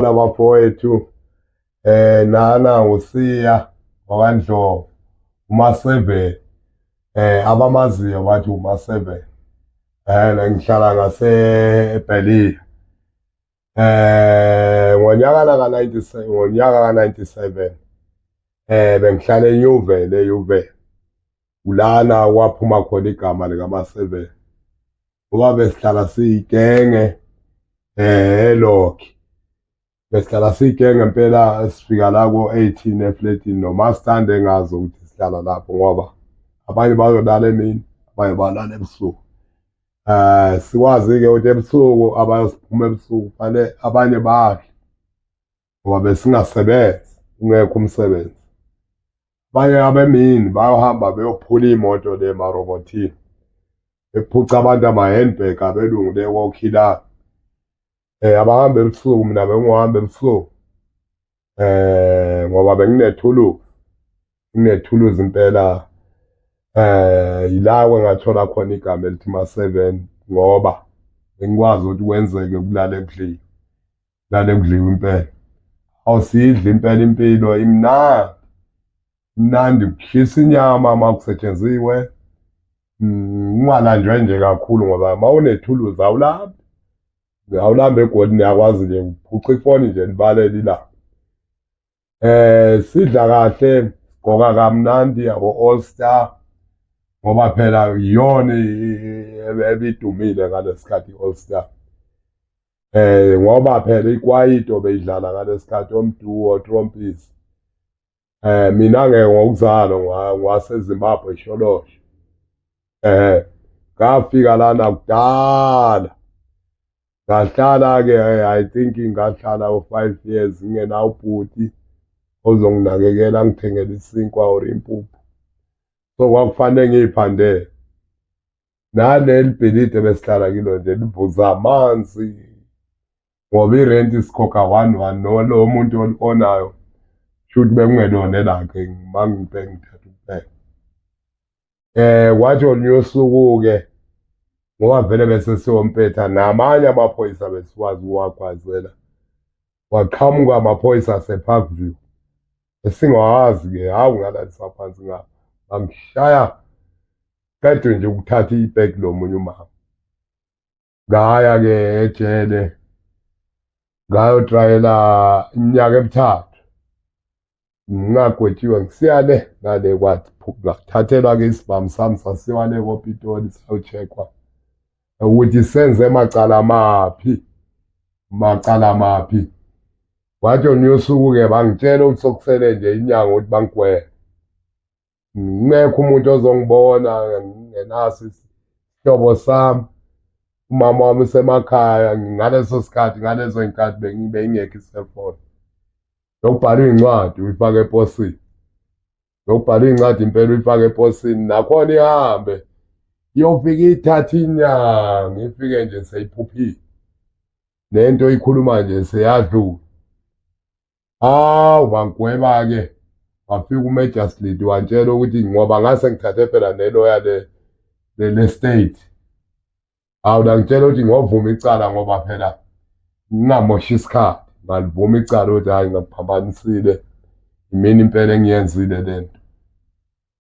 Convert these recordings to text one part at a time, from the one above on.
nabafowethu eh nana usiya wakandlovu uma 7 eh abamaziyo bathi uma 7 eh ngihlala ngase eBelly eh ngonyaka ka 97 ngonyaka ka 97 eh bengihlala eNewville eYuville ulana waphuma khona igama lika ma 7 ngoba besihlala siyigenge eh lokhi besihlala siyigenge impela sifika la ko-18 efletini noma sithande ngazi ukuthi sihlala lapho ngoba abanye bayolala emini abanye balala ebusuku um sikwazi-ke ukuthi ebusuku abayosiphuma ebusuku fanele abanye badle ngoba besingasebenzi ungekho umsebenzi abanye abemini bayohamba beyophula iy'moto le marobotini bephuca abantu ama-handbag abelungu le kokhilana um eh, abahambe ebusuku mina bengiwuhambe ebusuku um ngoba benginethuluzi nginethuluzi impela eh yilawe ngathola khona igama elithi ma-7 ngoba bengikwazi ukuthi kwenzeke ukulala ekudlile lale kudliwa impela awusidli impela impilo imnandi imnandi kuhlisa inyama uma kusetshenziwe mm, ungalanjwe nje kakhulu ngoba uma unethuluzi awulambi awulambi egodini yakwazi nje uphuca ifoni nje libalele ilanga eh sidla kahle gqoka kamnandi yabo all star ngoba phela iyona ebidumile ngalesikhathi all star eh ngoba phela ikwayito beyidlala ngalesikhathi omduo trompis eh mina ke ngokuzalo ngwase Zimbabwe sholosho eh ngafika lana kudala ngahlala-ke i think ngahlala u-five years ngingena ubhuti ozonginakekela ngithengela isinkwa or impuphu so kwakufanele ngiyiphandele naleli bhilidi ebesihlala kilo nje livuza amanzi ngoba irenti sikhokha one one nolo muntu olikonayo shuthi bekungelona elakhe ngimangibhengithatha eh wathi oluyosukuke ngoba vele bese siwompetha namanye amaphoyisa besikwazi ukuwagwazela waqhamuka amaphoyisa asepark view esingawazi ke hawu ngalalisa phansi ngapha bangishaya qedwe nje ukuthatha ibheki lomunye umama ngaya-ke ejele ngayotrayela iminyaka emithathu ngingagwetshiwe ngisiya le nale kwathathelwa-ke isibhamu sami sasiwa le kopitoli sayocheckwa ukuthi senze macala maphi macala maphi wathi onuyosuku-ke bangitshela ukuthi sokusele nje inyanga ukuthi bangigwele ngekho umuntu ozongibona ngenaso isihlobo sami umama wami usemakhaya ngaleso sikhathi ngalezo y'nkathi bengingekho iselfone yokubhala iy'ncwadi uyifake eposini yokubhala iy'ncwadi impela uyifake eposini nakhona ihambe iyofika ithatha inyanga ifike nje seyiphuphile nento ikhuluma nje seyadlula hawu bagweba-ke wafika umagistrate wantshela ukuthi ngoba ngase ngithathe phela neloya le-state hawu langitshela ukuthi ngovuma icala ngoba phela ngingamoshi isikhathi ngalivuma icala ukuthi hhayi ngaphambanisile imini impela engiyenzile le nto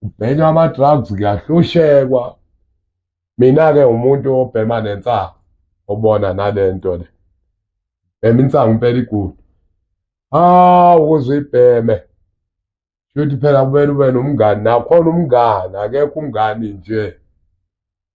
kubhenywa ama-drugs kuyahlushekwa mina-ke umuntu obhema nensangu obona nale nto le bhema insangu impela igudu hawu ukuze uyibheme shuthi phela kumele ube nomngani nakhona umngani akekho umngani nje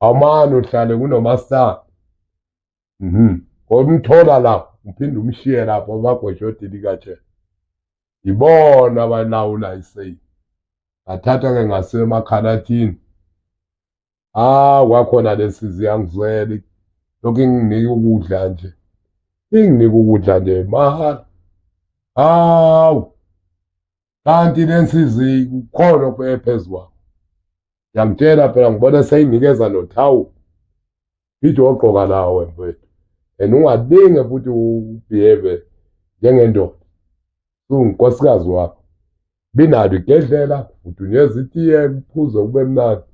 awumane uhlale kunomasitana mhm ngomthola lapho uphinde umshiye lapho abagweshoti likatshela yibona abalawula iseyi ngathatha ke ngasemakhalathini ah kwakhona lesi ziyangizwela lokhu inginika ukudla nje inginika ukudla nje mahhala hawu kanti nensizi kukhona okubeke phezu kwakho yamtshela phela ngibona seyinikeza nothawu ithi ogqoka lawo mfethu and ungalinge futhi ubehave njengendoda ungunkosikazi wakho binalo igedlela kudunyeza itiye kuphuze kube mnandi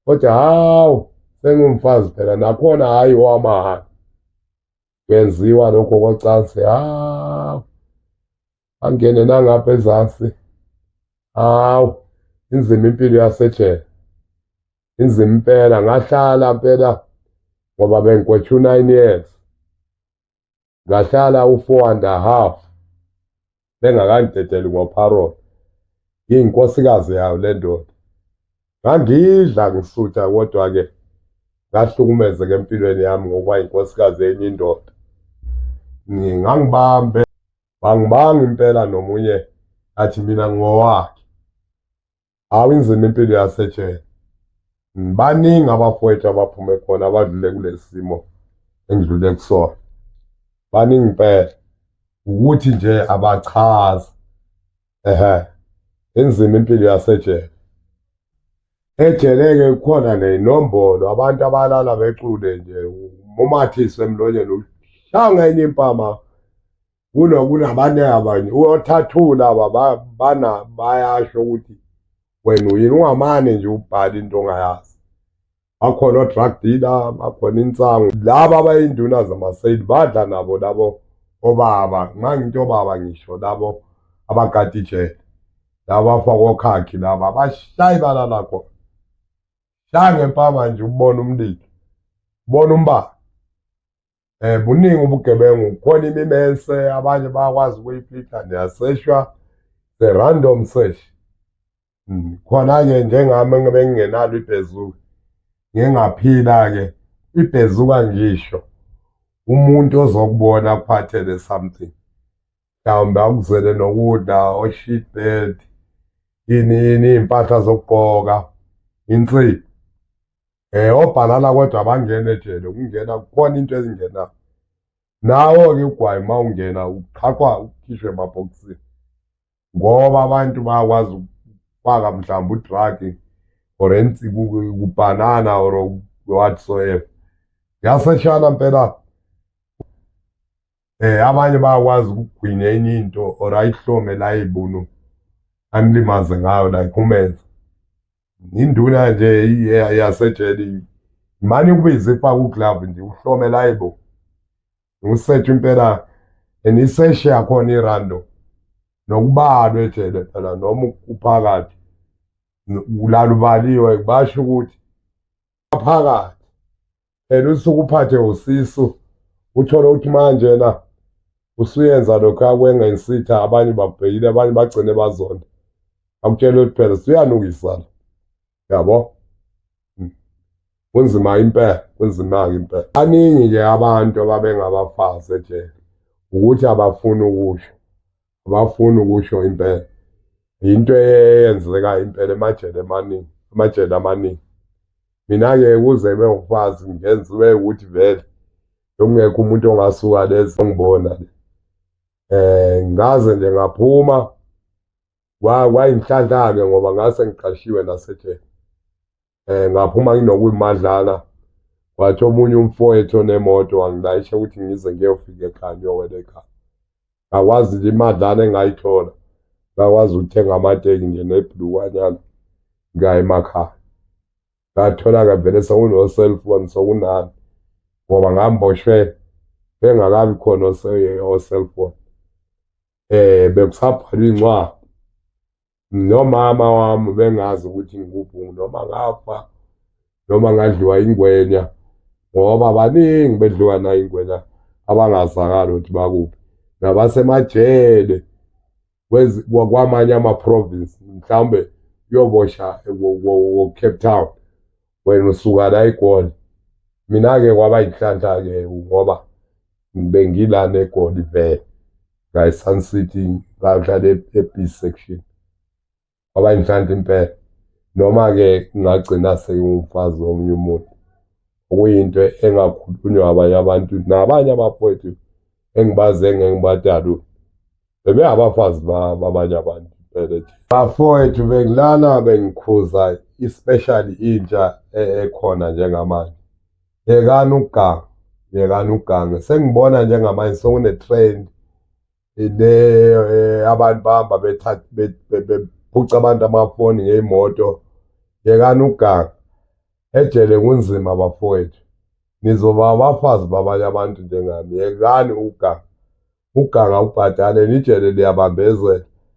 kodwa hawu sengumfazi phela nakhona hhayi owamahhala kwenziwa lokho kocansi hawu angene nangapha ezansi hawu inzima impilo yasejele inzima impela ngahlala mpela ngoba bengikwethu 9 years ngahlala u4 and a half bengakangidedeli ngoparol ngiyinkosikazi yayo le ndoda ngangidla ngisutha kodwa-ke ngahlukumezeka empilweni yami ngokuba yinkosikazi yenye indoda ngangibambe bangibanga impela nomunye athi mina ngowakhe hawu inzima impilo yasetshela baningi abafowethu abaphume khona abadlule kulesi simo engidlule kusona baningi impela ukuthi nje abachazi ehe inzima impilo yasejele ejeleke kukhona neyinombolo abantu abalala becule nje umathise emlonyeni uhlanga enye impama kunokunabanye abanye uyothathula aba bana bayasho ukuthi wena uyini ungamane nje ubhala into ongayazi bakhona o-drug dealer bakhona insangu laba abayinduna zamaseyili badla nabo labo obaba nxa ngithi obaba ngisho labo abagada ijele labo bafakwa okhakhi laba bashayi balala khona shaya ngempama nje ubona umlilo ubona umbala um buningi ubugebengu kukhona imimense abanye bayakwazi ukuyiphitha niyaseshwa the random sesh hmm, khona-ke njengami ngibe ngingenalo ibhezuka ngingaphila-ke ibhezuka ngisho umuntu ozokubona akuphathele something mhlawumbe akuzele nokudla oshit bed yini yini iy'mpahla zokugqoka insipho Eh obhalala kodwa abangene ejele ukungena kukhona into ezingena. Nawo ke ugwayi uma ungena uqhaqwa ukhishwe emabhokisini. Ngoba abantu bayakwazi ukufaka mhlawumbe udrug or ensi kubanana or whatsoever. Yaseshana impela eh abanye bayakwazi ukugwinya enye into or ayihlome la ibunu anilimaze ngayo la ikhumenza induna nje yasejele mani ukubiza ifaka uglove nje uhlome la ibo usethe impela and iseshe yakhona irando nokubalwa ejele phela noma uphakathi ulalubaliwe basho ukuthi phakathi phela usuke uphathe usisu uthole ukuthi manje na usuyenza lokho akwengensitha abanye bakubhekile abanye bagcine bazonda akutshele ukuthi phela suyanukisana yabo hmm. kunzima impela kunzima-ke impela baningi-ke abantu ababengabafazi ejele ukuthi abafuni ukusho abafuni ukusho impela yinto eyenzeka impela emajele amaningi amajele amaningi mina-ke kuze kube ngikwazi ngenza ube ukuthi vele bekungekho umuntu ongasuka lezi ongibona le eh ngaze nje ngaphuma kwayinhlanhla-ke ngoba ngase ngiqashiwe nasejele eh ngaphuma nginokuyimadlala wathi omunye umfowethu onemoto wangilayisha ukuthi ngize ngiyofika ekhaya ngiyowela ekhaya ngakwazi nje imadlana engayithola ngakwazi ukuthenga amateki nje nebhulukwanyana ngaya emakhaya ngathola-ke vele sekuno-cellphone sokunani ngoba ngamboshwe bengakabi khona o-cellphone um bekusabhalwa iy'ncwadi nomama wami bengazi ukuthi ngikubhungu noma ngafa noma ngadliwa ingwenya ngoba baningi bedliwa nayo ingwenya abangazakali ukuthi bakuphi nabasemajele kwamanye ama-province mhlawumbe uyobosha wo-cape town wena usuka la egoli mina-ke kwaba yinhlanhla-ke ngoba bengilana egoli vele ngayi-sun city ngadlala e-b section kwaba yinhlanhla impela noma-ke ngagcina sengumfazi womunye umuntu okuyinto engakhulunywa abanye abantu nabanye abafowethu engibazi engeke ngibadalule bebengabafazi babanye abantu bebethi bafowethu bengilana bengikhuza especially intsha e, ekhona njengamanje yekani ukuganga yekani ukuganga sengibona njengamanje sokune-trend le eh, abantu bahamba bephuca abantu amafoni ngey'moto yekani ukuganga ejele kunzima bafowethu nizoba abafazi babanye abantu njengami yekani ukuganga ukuganga ubhadale nijele liyabambezela